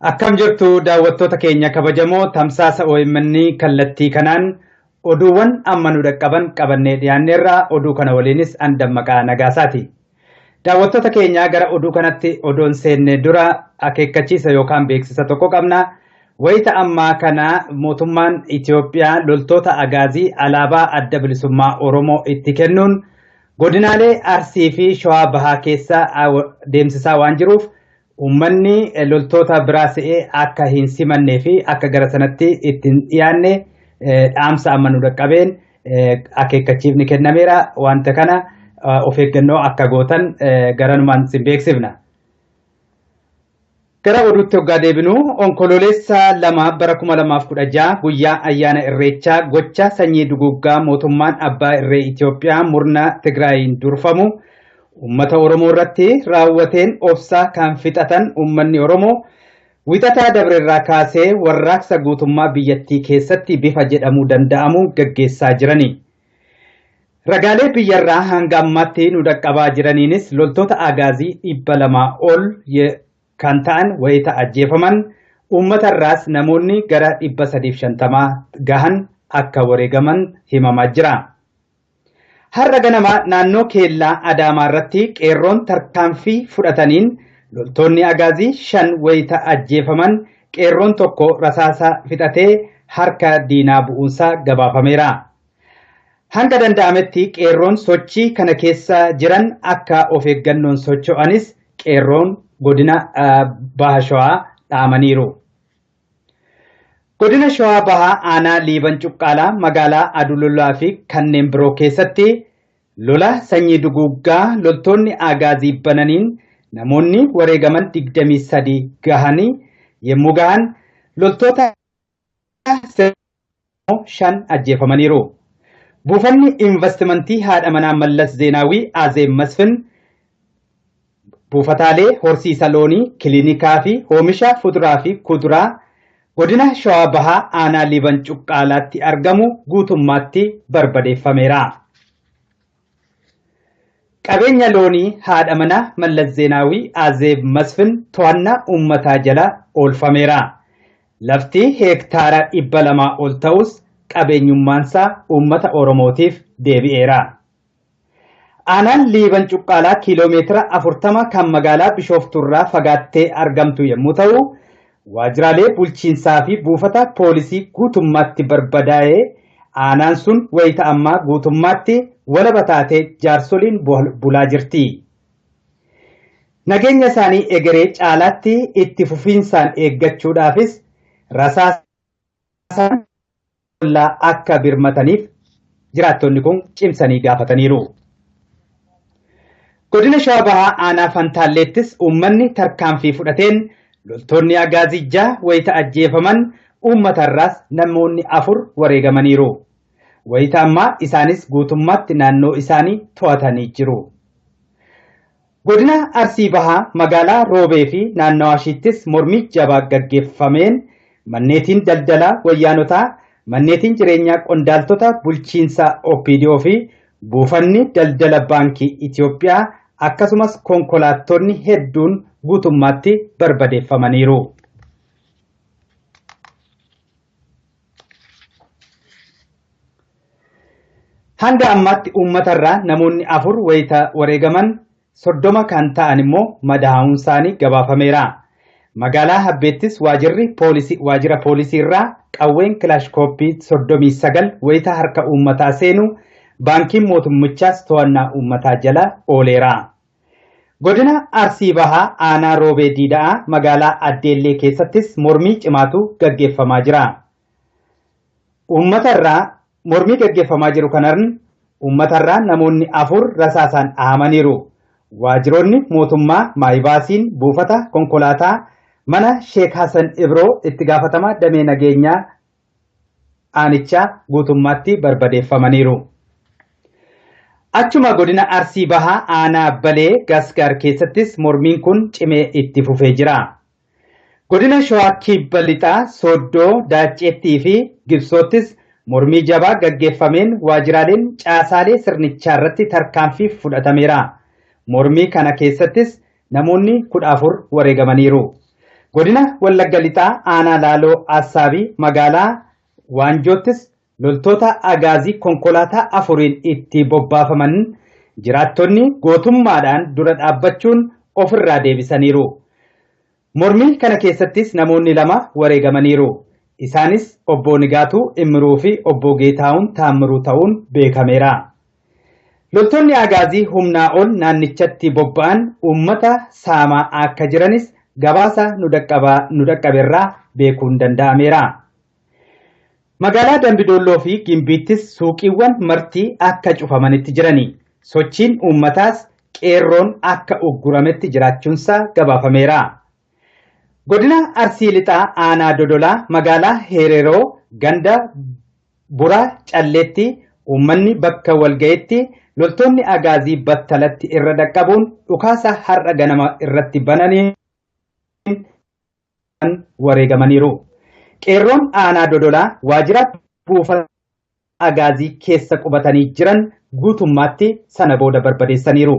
Akkam jirtu daawwattoota keenya kabajamoo tamsaasa OMN kallattii kanaan oduuwwan amma nu dhaqqaban qabannee dhiyaanneerra oduu kana waliinis an dammaqaa nagaasaati. Daawwattoota keenyaa gara oduu kanatti odoon seenne dura akeekkachiisa yookaan beeksisa tokko qabna. Wayita ammaa kana mootummaan Itoophiyaa loltoota agaazii alaabaa adda bilisummaa Oromoo itti kennuun godinaalee Arsii fi Shawaa Bahaa keessa deemsisaa waan jiruuf Uummanni loltoota biraa se'ee akka hin simannee fi akka gara sanatti itti hin dhiyaanne dhaamsa amma nu dhaqqabeen akeekkachiifni kennameera. Wanta kana of eeggannoo akka gootan garanumaan sin beeksifna. Gara oduutti hoggaa deebinu onkoloolessa lama bara 2016 guyyaa ayyaana irreechaa gocha sanyii duguuggaa mootummaan abbaa irree Itoophiyaa murna Tigraayiin durfamu Uummata Oromoo irratti raawwateen obsa kan fixatan uummanni Oromoo wixataa dabre irraa kaasee warraaqsa guutummaa biyyattii keessatti bifa jedhamuu danda'amu gaggeessaa jirani. Ragaalee biyyarraa hanga ammaatti nu dhaqqabaa jiraniinis loltoota Agaazii dhibba lamaa ol kan ta'an wayita ajjeefaman uummata irraas namoonni gara dhibba sadiif shantamaa gahan akka wareegaman himamaa jira. Har'a ganama naannoo Keellaa Adaamaa irratti qeerroon tarkaanfii fudhataniin loltoonni Agaazii shan wayita ajjeefaman qeerroon tokko rasaasa fixatee harka diinaa bu'uunsaa gabaafameera. Hanga danda'ametti qeerroon sochii kana keessa jiran akka of eeggannoon socho'anis qeerroon godina Baha Shawaa dhaamaniiru. Godina Shawaa Bahaa Aanaa Liiban Cuqqaalaa magaalaa Adululaa fi kanneen biroo keessatti lola sanyii duguuggaa loltoonni Aagaazii bananiin namoonni wareegaman 23 gahanii yemmuu gahan loltoota shan ajjeefamaniiru. Buufanni invastimantii haadha manaa Mallas Zeenaawii Azeem Masfin buufataalee horsiisa loonii, kilinikaa fi hoomisha fuduraa fi kuduraa godina Shawaa Bahaa aanaa Liiban Cuqqaalaatti argamu guutummaatti barbadeeffameera. Qabeenya loonii haadha manaa Mallas Zeenaawii Azeeb Masfin to'annaa uummataa jala oolfameera. Lafti heektaara 200 ol ta'us qabeenyummaansaa uummata Oromootiif deebi'eera. Aanaan Liiban Cuqqaalaa kiiloo meetira 40 kan magaalaa Bishooftuurraa fagaattee argamtu yommuu ta'u, Waajjiraalee bulchiinsaa fi buufata poolisii guutummaatti barbadaa'e, aanaan sun wayita ammaa guutummaatti walaba taatee jaarsoliin bulaa jirti. Nageenya isaanii egeree caalaatti itti fufiinsaan eeggachuudhaafis rasaasaan ollaa akka birmataniif jiraattonni kun cimsanii gaafataniiru. Godina Shawaa Bahaa Aanaa Fantaalleettis uummanni tarkaanfii fudhateen loltoonni Agaazii jaha wayita ajjeefaman uummatarraas namoonni afur wareegamaniiru. Wayita ammaa isaanis guutummaatti naannoo isaanii to'atanii jiru. Godina Arsii Bahaa magaalaa Roobee fi naannawaashiittis mormii jabaa gaggeeffameen manneetiin daldalaa wayyaanotaa, manneetiin jireenyaa qondaaltota bulchiinsa OPDO fi buufanni daldala Baankii Itiyoophiyaa akkasumas konkolaattonni hedduun guutummaatti barbadeeffamaniiru. Hanga ammaatti uummatarraa namoonni afur wayita wareegaman soddoma kan ta'an immoo madaa'uunsaanii gabaafameera. Magaalaa Habbeettis waajirri poolisii waajira poolisiirraa qawween kilaashkooppii soddomii sagal wayita harka uummataa seenu baankiin mootummichaas to'annaa uummataa jala ooleera. Godina Arsii Bahaa aanaa Roobee Diida'aa magaalaa Addeellee keessattis mormii cimaatu gaggeeffamaa jira. Uummata irraa mormii gaggeeffamaa jiru kanarn uummata irraa namoonni afur rasaasaan dhahamaniiru. Waajiroonni mootummaa maayibaasiin buufata konkolaataa mana Sheek Hasan Ibroo itti gaafatamaa damee nageenyaa aanichaa guutummaatti barbadeeffamaniiru. Achuma godina Arsii Bahaa aanaa Balee Gasgaar keessattis mormiin kun cimee itti fufee jira. Godina Shawaa Kibba Lixaa Sooddoo, Daacceettii fi Gibsoottis mormii jabaa gaggeeffameen waajjiraaleen caasaalee sirnichaarratti tarkaanfii fudhatameera. Mormii kana keessattis Namoonni 14 wareegamaniiru. Godina Wallagga Lixaa aanaa Laaloo Assaabii magaalaa Waanjoottis loltoota Agaazii konkolaataa afuriin itti bobbaafaman jiraattonni gootummaadhaan dura dhaabbachuun ofirraa deebisaniiru. Mormii kana keessattis namoonni lama wareegamaniiru. Isaanis Obbo Nigaatuu Immiruu fi Obbo Geetaahun Taammiruu ta'uun beekameera. Loltoonni Agaazii humnaa ol naannichatti bobba'an uummata saamaa akka jiranis gabaasa nu dhaqqabaa nu dhaqqaberraa beekuun danda'ameera. Magaalaa Dambi Doolloo fi Gimbiittis suuqiiwwan marti akka cufamanitti jirani. Sochiin uummataas qeerroon akka uggurametti jiraachuunsaa gabaafameera. Godina Arsii Lixaa Aanaa Dodolaa magaalaa Heereroo ganda Buraa Calleetti uummanni bakka walgayetti loltoonni Agaazii battalatti irra dhaqqabuun dhukaasa har'a ganama irratti bananiin wareegamaniiru. Qeerroon aanaa Dodolaa waajjira buufata Agaazii keessa qubatanii jiran guutummaatti sana booda barbadeessaniiru.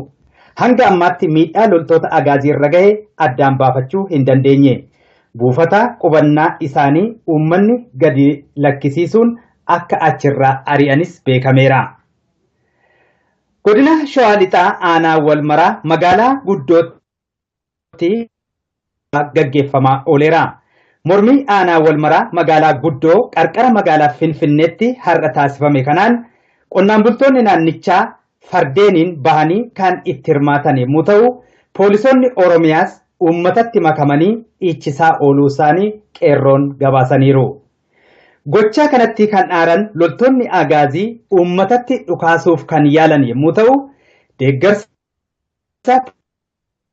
Hanga ammaatti miidhaa loltoota Agaazii irra gahe addaan baafachuu hin dandeenye. Buufata qubannaa isaanii uummanni gadi lakkisiisuun akka achirraa ari'anis beekameera. Godina Shawaa Lixaa Aanaa Walmaraa magaalaa Guddootti gaggeeffamaa ooleera. Mormii Aanaa Walmaraa magaalaa Guddoo qarqara magaalaa Finfinneetti har'a taasifame kanaan qonnaan bultoonni naannichaa fardeeniin bahanii kan itti hirmaatan yommuu ta'u, poolisoonni Oromiyaas uummatatti makamanii dhiichisaa ooluusaanii Qeerroon gabaasaniiru. Gochaa kanatti kan aaran loltoonni Agaazii uummatatti dhukaasuuf kan yaalan yommuu ta'u, deeggarsa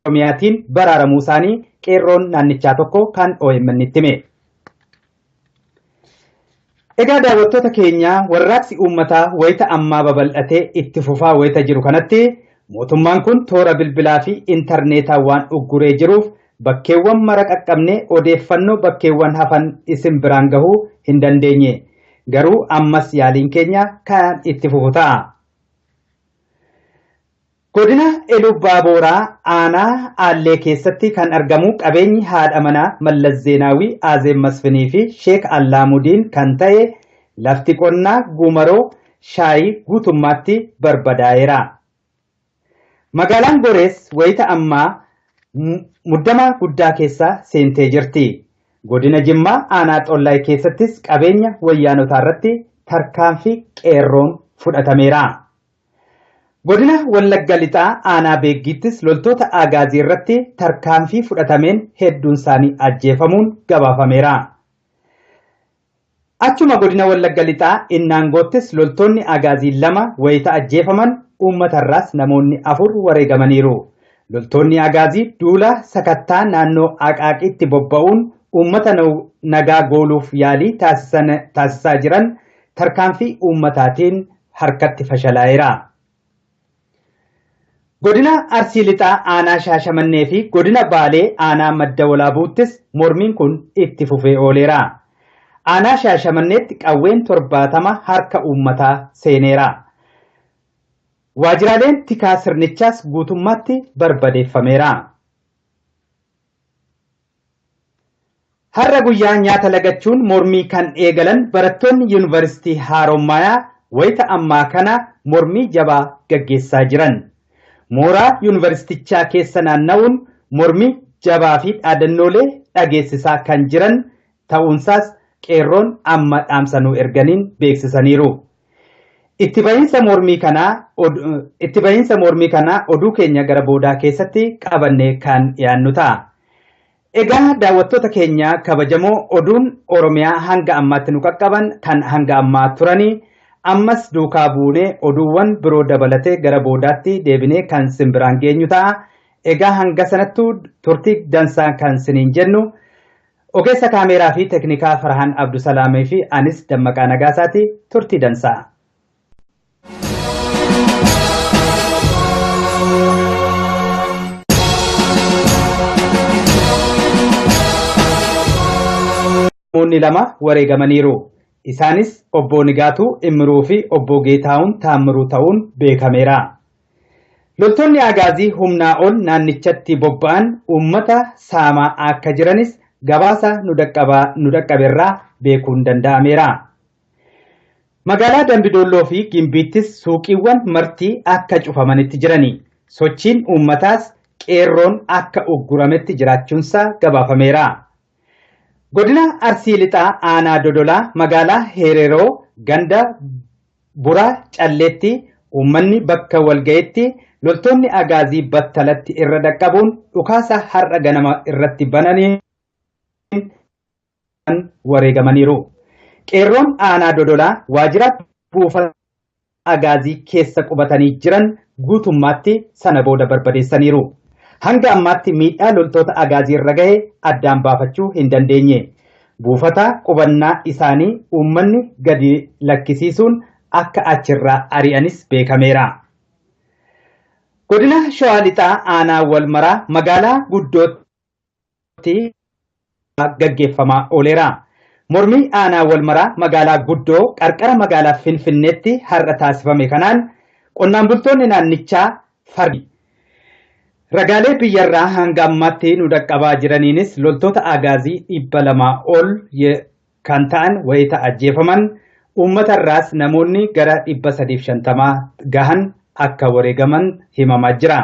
Oromiyaatiin baraaramuu isaanii qeerroon naannichaa tokko kan OMN'tti hime. Egaa daawwattoota keenya warraaqsi uummataa wayita ammaa babal'atee itti fufaa wayita jiru kanatti mootummaan kun toora bilbilaa fi intarneetaa waan ugguree jiruuf bakkeewwan mara qaqqabne odeeffannoo bakkeewwan hafan isin biraan gahuu hin dandeenye. Garuu ammas yaaliin keenya kan itti fufu ta'a. Godina Eluubbaabooraa aanaa Aallee keessatti kan argamu qabeenyi haadha manaa Mallas Zeenaawii Aazeeb Masfinii fi Sheek Allaamudiin kan ta'e lafti qonnaa Guumaroo Shaayii guutummaatti barbadaa'eera. Magaalaan Gorees wayita ammaa muddama guddaa keessa seentee jirti. Godina Jimmaa aanaa Xollaay keessattis qabeenya wayyaanotaarratti tarkaanfii qeerroon fudhatameera. Godina Wallagga Lixaa Aanaa Beeggiittis loltoota Aagaazii irratti tarkaanfii fudhatameen hedduun isaanii ajjeefamuun gabaafameera. Achuma Godina Wallagga Lixaa Innaangoottis loltoonni Aagaazii lama wayita ajjeefaman uummata irraas namoonni afur wareegamaniiru. Loltoonni Aagaazii duula sakattaa naannoo Aqaaqiitti bobba'uun uummata nagaa gooluuf yaalii taasisaa jiran tarkaanfii uummataatiin harkatti fashalaa'eera. Godina Arsii Lixaa aanaa Shaashamannee fi godina Baalee aanaa Madda Walaabuuttis mormiin kun itti fufee ooleera. Aanaa Shaashamanneetti qawween torbaatama harka uummataa seeneera. Waajjiraaleen tikaa sirnichaas guutummaatti barbadeeffameera. Har'a guyyaa nyaata lagachuun mormii kan eegalan barattoonni Yuunivarsiitii Haaromaayaa wayita ammaa kana mormii jabaa gaggeessaa jiran. Mooraa Yuunivarsiitichaa keessa naanna'uun mormii jabaa fi dhaadannoolee dhageessisaa kan jiran ta'uunsaas qeerroon amma dhaamsa nuu erganiin beeksisaniiru. Itti bahiinsa mormii kanaa Itti bahiinsa mormii kanaa oduu keenya gara boodaa keessatti qabannee kan dhiyaannu ta'a. Egaa daawwattoota keenya kabajamoo oduun Oromiyaa hanga ammaatti nu qaqqaban kan hanga ammaa turanii ammas duukaa buunee oduuwwan biroo dabalatee gara boodaatti deebinee kan sin biraan geenyu ta'a. Egaa hanga sanattuu turtii dansaa kan siniin jennu Ogeessa kaameeraa fi teknikaa Farhaan Abdusalaamii fi anis Dammaqaa Nagaasaati turtii dansaa. Namoonni lama wareegamaniiru. Isaanis Obbo Nigaatuu Immiruu fi Obbo Geetaahun Taammiruu ta'uun beekameera. Loltoonni Agaazii humnaa ol naannichatti bobba'an uummata saamaa akka jiranis gabaasa nu dhaqqabaa nu dhaqqaberraa beekuun danda'ameera. Magaalaa Dambidoolloo fi Gimbiittis suuqiiwwan marti akka cufamanitti jirani. Sochiin uummataas qeerroon akka uggurametti jiraachuunsaa gabaafameera. Godina Arsii Lixaa Aanaa Dodolaa magaalaa Heereroo ganda Buraa Calleetti uummanni bakka walgayetti loltoonni Agaazii battalatti irra dhaqqabuun dhukaasa har'a ganama irratti bananiin wareegamaniiru. Qeerroon aanaa Dodolaa waajjira buufata Agaazii keessa qubatanii jiran guutummaatti sana booda barbadeessaniiru. Hanga ammaatti miidhaa loltoota Agaazii irra gahe addaan baafachuu hin dandeenye. Buufata qubannaa isaanii uummanni gadi lakkisiisuun akka achirraa ari'anis beekameera. Godina Shawaa Lixaa Aanaa Walmaraa magaalaa Guddootti gaggeeffamaa ooleera. Mormii Aanaa Walmaraa magaalaa Guddoo qarqara magaalaa Finfinneetti har'a taasifame kanaan qonnaan bultoonni naannichaa Fardi. Ragaalee biyyarraa hanga ammaatti nu dhaqqabaa jiraniinis loltoota Agaazii dhibba lama ol kan ta'an wayita ajjeefaman uummatarraas namoonni gara dhibba sadiif shantama gahan akka wareegaman himamaa jira.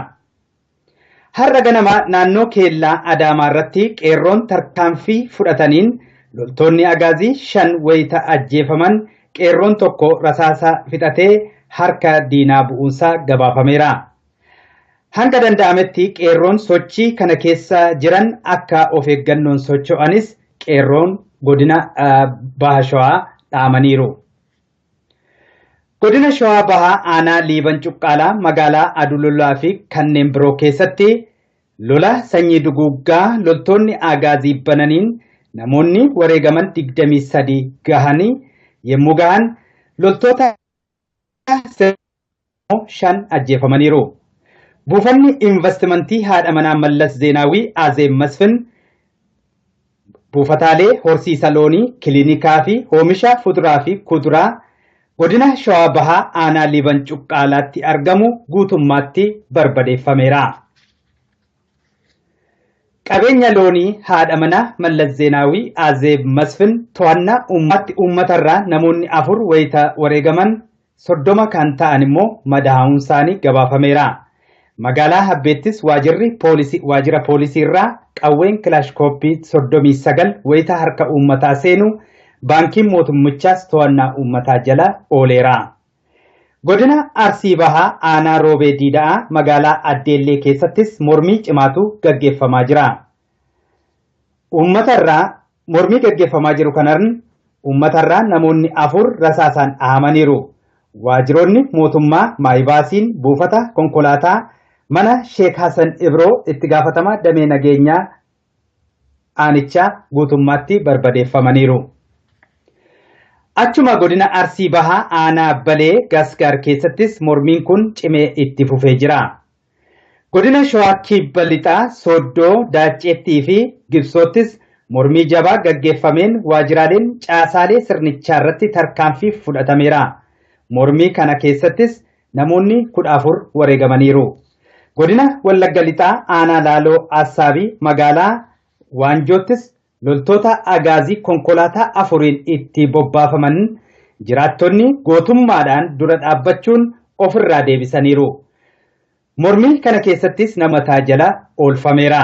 Har'a ganama naannoo keellaa Adaamaa irratti qeerroon tarkaanfii fudhataniin loltoonni Agaazii shan wayita ajjeefaman qeerroon tokko rasaasa fixatee harka diinaa bu'uunsaa gabaafameera. Hanga danda'ametti qeerroon sochii kana keessa jiran akka of eeggannoon socho'anis qeerroon godina Baha Shawaa dhaamaniiru. Godina Shawaa Bahaa aanaa Liiban Cuqqaalaa magaalaa Adululaa fi kanneen biroo keessatti Lola sanyii duguuggaa loltoonni Aagaazii bananiin namoonni wareegaman 23 gahanii yemmuu gahan loltoota sirna ammoo 5 ajjeefamaniiru. Buufanni invastimantii haadha manaa Mallas Zeenaawii Azeeb Masfin Buufataalee horsiisa loonii, kilinikaa fi hoomisha fuduraa fi kuduraa Godina Shawaa Bahaa Aanaa Liiban Cuqqaalaatti argamu guutummaatti barbadeeffameera. Qabeenya loonii haadha manaa Mallas Zeenaawii Azeeb Masfin to'annaa uummaatti uummatarraa namoonni afur wayita wareegaman 30 kan ta'an immoo madaa'uunsaanii gabaafameera. Magaalaa Habbeettis waajirri poolisii waajira poolisii irraa qawween kilaashkooppii 39 wayita harka uummataa seenu baankiin mootummichaas to'annaa uummataa jala ooleera. Godina Arsii Bahaa aanaa Roobee Diida'aa magaalaa Addeellee keessattis mormii cimaatu gaggeeffamaa jira. Uummatarraa mormii gaggeeffamaa jiru kanarn uummatarraa namoonni afur rasaasaan dhahamaniiru. Waajiroonni mootummaa Maayibaasiin buufata konkolaataa mana Sheek Hasan Ibroo itti gaafatamaa damee nageenyaa aanichaa guutummaatti barbadeeffamaniiru. Achuma godina Arsii Bahaa aanaa Balee Gasgaar keessattis mormiin kun cimee itti fufee jira. Godina Shawaa Kibba Lixaa Sooddoo, Daacceettii fi Gibsoottis mormii jabaa gaggeeffameen waajjiraaleen caasaalee sirnichaarratti tarkaanfii fudhatameera. Mormii kana keessattis namoonni 14 wareegamaniiru. Godina Wallagga Lixaa Aanaa Laaloo Assaabii magaalaa Waanjoottis loltoota agaazii konkolaataa afuriin itti bobbaafaman jiraattonni gootummaadhaan dura dhaabbachuun ofirraa deebisaniiru. Mormii kana keessattis nama taajala oolfameera.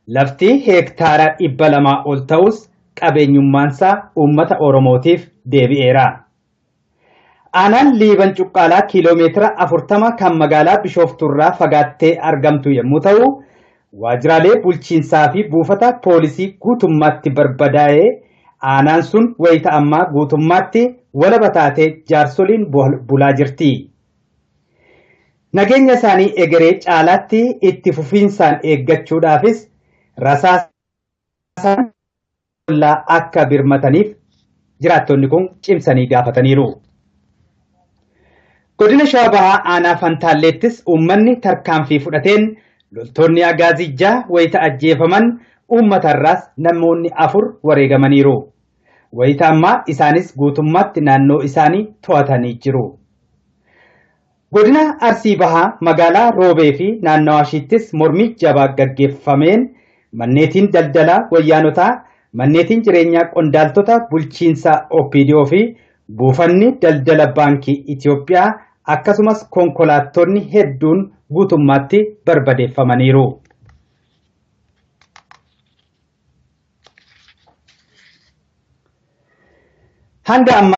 Lafti heektaara dhibba lamaa ol ta'us qabeenyummaansaa uummata Oromootiif deebi'eera. Aanaan Liiban Cuqqaalaa kiiloo meetira 40 kan magaalaa Bishooftuurraa fagaattee argamtu yommuu ta'u, waajjiraalee bulchiinsaa fi buufata poolisii guutummaatti barbadaa'ee aanaan sun wayita ammaa guutummaatti walaba taatee jaarsoliin bulaa jirti. Nageenya isaanii egeree caalaatti itti fufiinsaan eeggachuudhaafis rasaasaan ollaa akka birmataniif jiraattonni kun cimsanii gaafataniiru. Godina Shawaa Bahaa Aanaa Fantaalleettis uummanni tarkaanfii fudhateen loltoonni Agaazii jaha wayita ajjeefaman uummatarraas namoonni afur wareegamaniiru. Wayita ammaa isaanis guutummaatti naannoo isaanii to'atanii jiru. Godina Arsii Bahaa magaalaa Roobee fi naannawaashiittis mormii jabaa gaggeeffameen manneetiin daldalaa wayyaanotaa, manneetiin jireenyaa qondaaltota bulchiinsa OPDO fi buufanni daldala Baankii Itiyoophiyaa akkasumas konkolaattonni hedduun guutummaatti barbadeeffamaniiru. Hanga ammaa.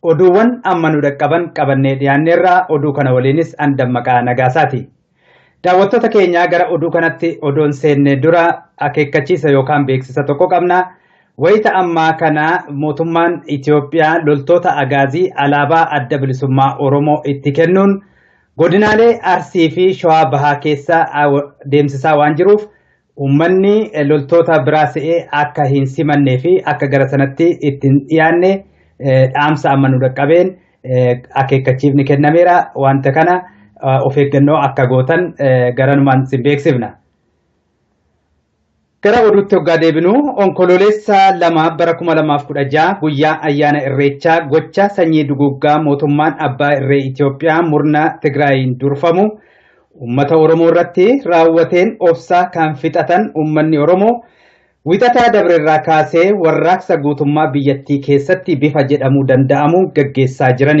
Oduuwwan amma nu dhaqqaban qabannee dhiyaanneerra oduu kana waliinis an Dammaqaa Nagaasaati. Daawwattoota keenyaa gara oduu kanatti odoon seennee dura akeekkachiisa yookaan beeksisa tokko qabna. Wayita ammaa kana mootummaan Itoophiyaa loltoota agaazii alaabaa adda bilisummaa Oromoo itti kennuun godinaalee Arsii fi Shawaa Bahaa keessa deemsisaa waan jiruuf Uummanni loltoota biraa se'ee akka hin simannee fi akka gara sanatti itti hin dhiyaanne dhaamsa amma nu dhaqqabeen akeekkachiifni kennameera. Wanta kana of eeggannoo akka gootan garanumaan sin beeksifna. Gara oduutti hoggaa deebinu onkoloolessa lama bara 2016 guyyaa ayyaana irreechaa gocha sanyii duguuggaa mootummaan abbaa irree Itoophiyaa murna Tigraayiin durfamu Uummata Oromoo irratti raawwateen obsa kan fixatan uummanni Oromoo Wixataa dabre irraa kaasee warraaqsa guutummaa biyyattii keessatti bifa jedhamuu danda'amuun gaggeessaa jiran.